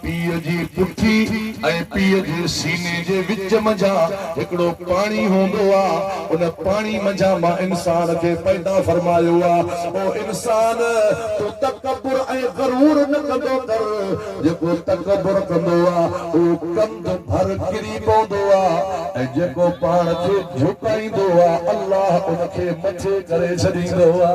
پيء جي پٺي ۽ پيء جي سيني جي وچ منجهان هڪڙو پاڻي هوندو آ، ان پاڻي منجهان مان انسان کي پيدا فرمايو آ. او انسان! تون تڪبر ۽ غرور نه ڪندو ڪر، جيڪو تڪبر ڪندو آ، اهو ڪنڌ ڀر ڪري پوندو آ ۽ جيڪو پاڻ کي جهڪائيندو آ، الله ان کي مٿي ڪري ڇڏيندو آ.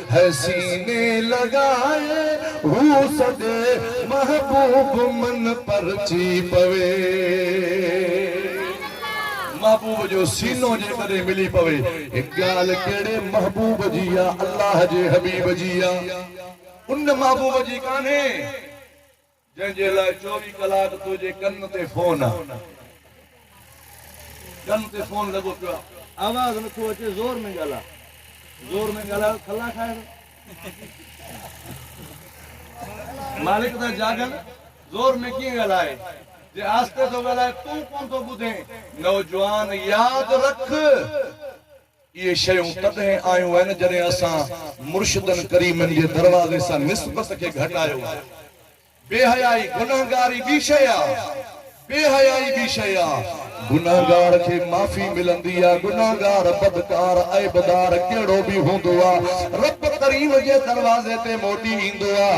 هي سيني لڳائي هو سڏي محبوب من پرچي پوي. محبوب جو سينو جيڪڏهن ملي پوي هي ڳالهه ڪهڙي محبوب جي آ الله جي حبيب جي آ ان محبوب جي ڪانهي. جنهن جي لاء چوويهه ڪلاڪ تنهنجي ڪن تي فون آ. ڪن تي فون لڳو پيو آ. آواز نٿو اچي زور ۾ ڳالهاء. زور ۾ ڳالهاء ته کلا کائي ويو. مالڪ ٿا جاڳن زور ۾ ڪيئن ڳالهائي. جي آهستي ٿو ڳالهائي تون ڪونه ٿو ٻڌين. نوجوان ياد رک! اهي شيون تڏهن آيون آهن جڏهن اسان مرشدن ڪريمن جي دروازي سان نسبت کي گهٽايو آهي. بي حيائي، گنهگاري ٻي شيء آ. بي حيائي ٻي شيء آ. گنهگار کي معافي ملندي آ. گنهگار، بدڪار، عيبدار ڪهڙو به هوندو آ. رب ڪريم جي دروازي تي موٽي ايندو آ.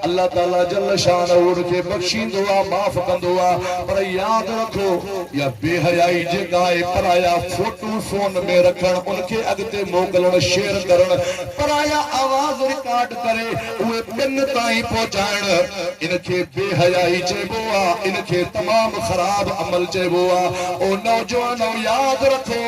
الله تعاليٰ جل شانه ان کي بخشيندو آ، معاف ڪندو آ. پر ياد رکو اها بي حيائي جيڪا آهي پرايا فوٽا تون فون ۾ رکڻ ان کي اڳتي موڪلڻ شيئر ڪرڻ پرايا آواز رڪارڊ ڪري اهي ٻين تائين پهچائڻ ان کي بي حيائي چئبو آ ان کي تمام خراب عمل چئبو آ او نوجوانو ياد رکو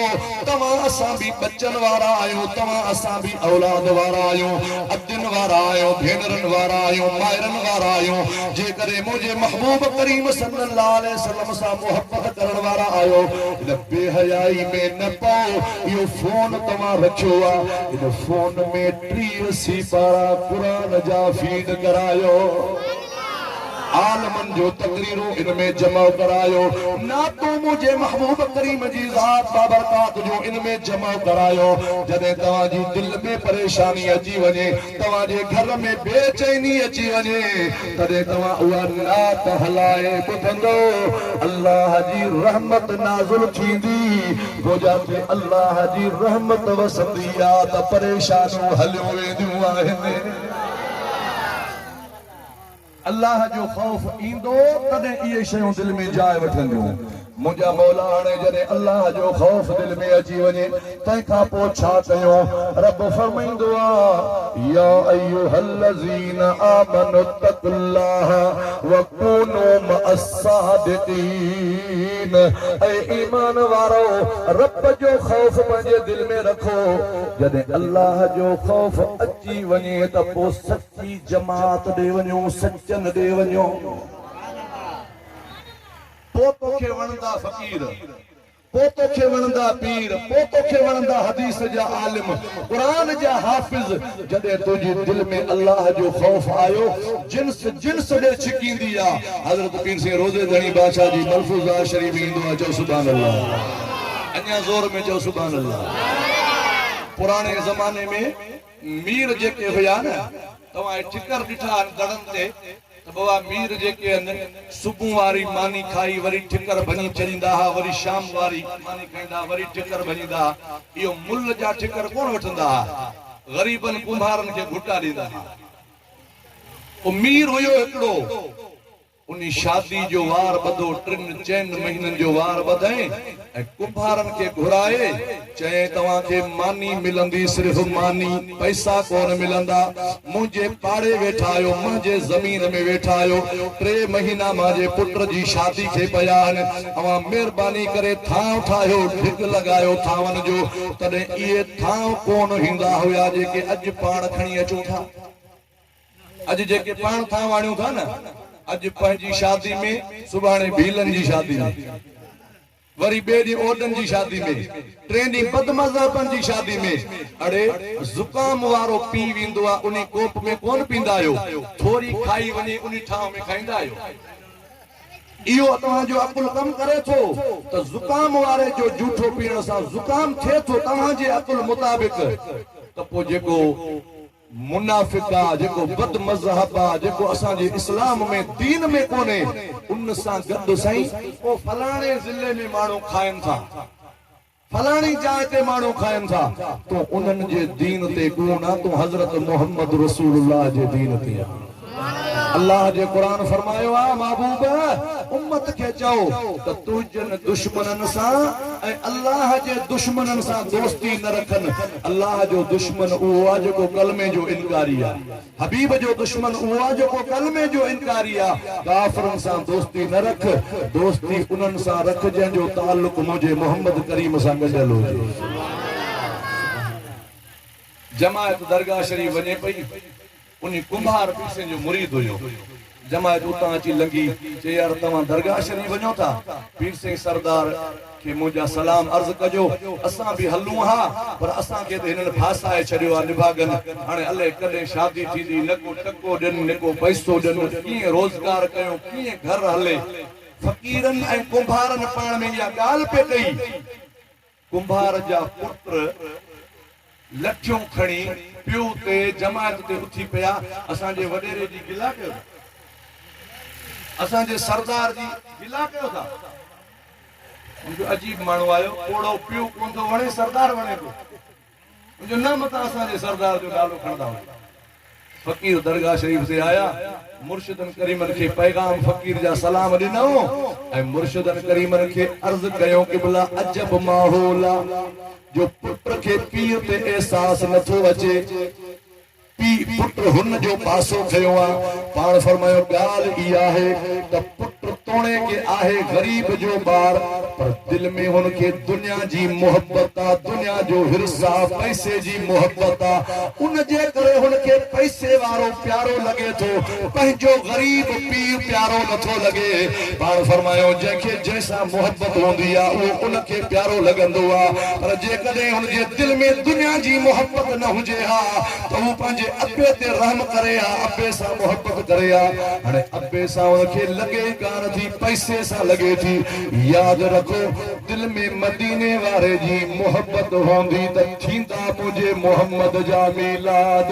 توهان اسان به ٻچن وارا آهيون توهان اسان به اولاد وارا آهيون ادين وارا آهيون ڀينرن وارا آهيون مائرن وارا آهيون جيڪڏهن منهنجي محبوب ڪريم صلي الله عليه وسلم سان محبت ڪرڻ وارا آهيو هن بي حيائي ۾ نه پئو اهو فون توهان رکيو آ ان فون ۾ ٽيهه سيپارا قرآن جا فيڊ ڪرايو عالمن جو تقريرون ان ۾ جمع ڪرايو نعتون منهنجي محبوب ڪريم جي ذات بابرڪات جون ان ۾ جمع ڪرايو جڏهن توهان جي دل ۾ پريشاني اچي وڃي توهان جي گهر ۾ بي چيني اچي وڃي تڏهن توهان اها نعت هلائي ٻڌندؤ الله جي رحمت نازل ٿيندي گوجا تي الله جي رحمت وسندي آ ته پريشانيون هليون وينديون آهن. الله جو خوف ايندو تڏهن اهي شيون دل ۾ جاء وٺنديون. منهنجا مولا هاڻي جڏهن الله جو خوف دل ۾ اچي وڃي تنهن کان پوء ڇا ڪيون؟ رب فرمائيندو آ، يا ايها الذين آمنوا اتقوا الله وڪونوا مع الصادقين اي ايمان وارؤ! رب جو خوف پنهنجي دل ۾ رکو. جڏهن الله جو خوف اچي وڃي ته پوء سچ جي جماعت ڏي وڃو سچن ڏي وڃو پو توکي وڻندا فقير پو توکي وڻندا پير پو توکي وڻندا حديث جا عالم قرآن جا حافظ جڏهن تنهنجي دل ۾ الله جو خوف آيو جنس جنس ڏي ڇڪيندي آ حضرت پير سين روضي ڌڻي بادشاھ جي ملفوظه شريف ۾ ايندو آ چئو سبحان الله اڃا زور ۾ چئو سبحان الله پراڻي زماني ۾ مير جيڪي هيا نه توهان اهي ٺڪر ڏٺا آهن دڙن تي ته بابا مير جيڪي ان صبح واري ماني کائي وري ٺڪر ڀڃي چريندا ها وري شام واري ماني کائيندا ها وري ٺڪر ڀڃيندا ها اهو مل جا ٺڪر ڪونه وٺندا ها غريبن ڪنڀارن کي گهٽا ڏيندا ها او مير هيو هڪڙو. انهي شادي جو وار ٻڌو، ٽن چئن مهينن جو وار ٻڌئين ۽ ڪنڀارن کي گهرائي چيائين توهان کي ماني ملندي صرف ماني، پئسا ڪونه ملندا، منهنجي پاڙي ويٺا آهيو، منهنجي زمين ۾ ويٺا آهيو، ٽي مهينا مانجي پٽ جي شادي کي پيا آهن، اوهان مهرباني ڪري ٿانء ٺاهيو، ڍڳ لڳايو ٿانون جو، تڏهن اهي ٿانء ڪونه هيندا هيا جيڪي اڄ پاڻ کڻي اچون ٿا. اڄ جيڪي پاڻ ٿان واڻيون ٿا نه، اڄ پنهنجي شادي ۾ سڀاڻي ڀيلن جي شادي ۾ وري ٻئي ڏينهن اوڏن جي شادي ۾ ٽئين ڏينهن بدمذهبن جي شادي ۾ اڙي زڪام وارو پي ويندو آ انهي ڪوپ ۾ ڪونه پيندا آهيو ٿوري کائي وڃي انهي ٺاهه ۾ کائيندا آهيو اهو توهان جو عقل ڪم ڪري ٿو ته زڪام واري جو جوٺو پيئڻ سان زڪام ٿئي ٿو توهان جي عقل مطابق ته پوء جيڪو منافق آ جيڪو بد مذهب آ جيڪو اسان جي اسلام ۾ دين ۾ ڪونهي ان سان گڏ سائين او فلاڻي ضلعي ۾ ماڻهو کائن ٿا فلاڻي جاء تي ماڻهو کائن ٿا تون انهن جي دين تي ڪون آ تون حضرت محمد رسول الله جي دين تي آ. الله جي قرآن فرمايو آ محبوب! امت کي چئو ته تنهنجن دشمنن سان ۽ الله جي دشمنن سان دوستي نه رکن. الله جو دشمن اهو آ جيڪو ڪلمي جو انڪاري آ. حبيب جو دشمن اهو آ جيڪو ڪلمي جو انڪاري آ. ڪافرن سان دوستي نه رک، دوستي انهن سان رک جنهن جو تعلق منهنجي محمد ڪريم سان ڳنڍيل هجي. جماعت درگاهه شريف وڃي پئي. انهي ڪنڀار پيسي جو مريد هيو. جماعت اتان اچي لنگهي، چئي يار توهان درگاهه شريف وڃو ٿا؟ پير سائين سردار کي منهنجا سلام عرض ڪجو. اسان به هلون ها، پر اسان کي ته هنن ڦاسائي ڇڏيو آهي نڀاڳن. هاڻي الئي ڪڏهن شادي ٿيندي، نه ڪو ٽڪو ڏين، نه ڪو پئسو ڏين، ڪيئن روزگار ڪيون، ڪيئن گهر هلي. فقيرن ۽ ڪنڀارن پاڻ ۾ اها ڳالهه پئي ڪئي. ڪنڀار جا پٽ لٺيون کڻي پيو تي جماعت تي اٿي پيا اسان جي وڏيري جي گلا ڪيو ٿا اسان جي سردار جي گلا ڪيو ٿا ان جو عجيب ماڻهو آيو پوڙهو پيو ڪون ٿو وڻي سردار وڻي ٿو ان جو نه متان اسان جي سردار جو نالو کڻندا هجو. فقير درگاهه شريف تي آيا، مرشدن ڪريمن کي پيغام فقير جا سلام ڏنائون ۽ مرشدن ڪريمن کي عرض ڪيائون قبلا عجب ماحول آ جو پٽ کي پيء تي احساس نٿو اچي. پيء پٽ هن جو پاسو کنيو آ، پاڻ فرمايو ڳالهه اي آهي ته پٽ توڻيڪ آهي غريب جو ٻار پر دل ۾ هن کي دنيا جي محبت آ، دنيا جو حرص آ، پئسي جي محبت آ، ان جي ڪري هن کي پئسي وارو پيارو لڳي ٿو، پنهنجو غريب پيء پيارو نه ٿو لڳي، پاڻ فرمايو جنهن کي جنهن سان محبت هوندي آ اهو ان کي پيارو لڳندو آ پر جيڪڏهن هن جي دل ۾ دنيا جي محبت نه هجي. ڪري ها ته هو پنهنجي ابي تي رحم ڪري ها، ابي سان محبت ڪري ها. هاڻي ابي سان هن کي لڳي ئي ڪانه ٿي، پئسي سان لڳي ٿي. ياد رکو، دل ۾ مديني واري جي محبت هوندي ته ٿيندا منهنجي محمد جا ميلاد.